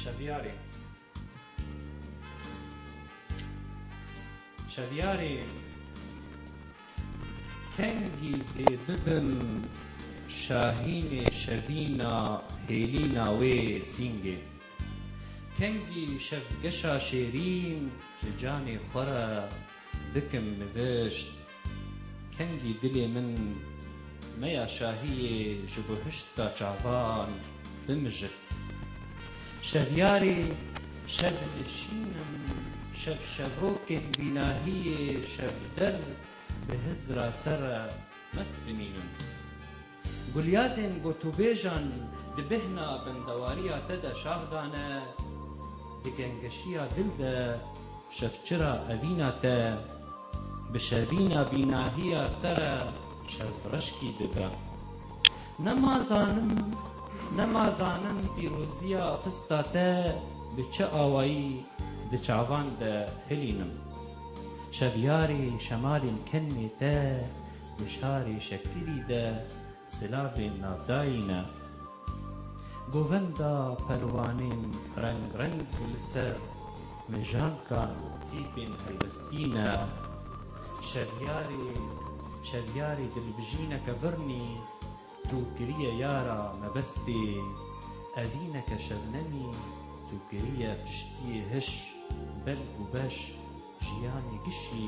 Şeviyarê Şeviyarê Kengî dê bibim Şahînê Şevîna Hêlîna wê sîngê Kengî şevgeşa şêrîn Ji canê xwe re Dikim nivişt, kengî dilê min meya şahiyê ji bo hiştka çavan bimijirt. Şevyarê şevnişînim, şevşevokên vî nahiyê şevder bi hizra te re mest dimînin. Gulyazên gotûbêjan di bêhna bendewariya te de şax dane, di gengeşiya dil de şevçira evîna te, bi şevîna bînahiya te re şevreşkî dida. Nema zanim, nema zanim pîroziya xista te bi çi awayî di çavan de hilînim. Şevyarê şemalên kenmê te Di şarê Şekilî de silavên navdayî ne. Govenda perwanên reng reng li ser mejankan û tîpên helwestî ne. Şevyarê şevyarê dilbijîneke virnî tu kiriye yara mebestê, evîneke şebnemî tu kiriye piştiyê hiş, belg û beş jiyanê gişî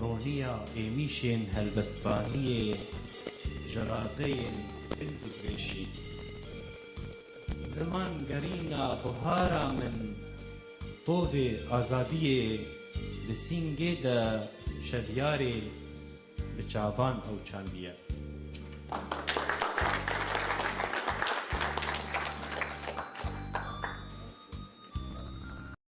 Roniya êmîşên helbestvaniyê ji razeyên din digureşî. Ziman gerîna buhara min, tovê azadiyê li sîngê de şevyarê bi çavan ew çandiye.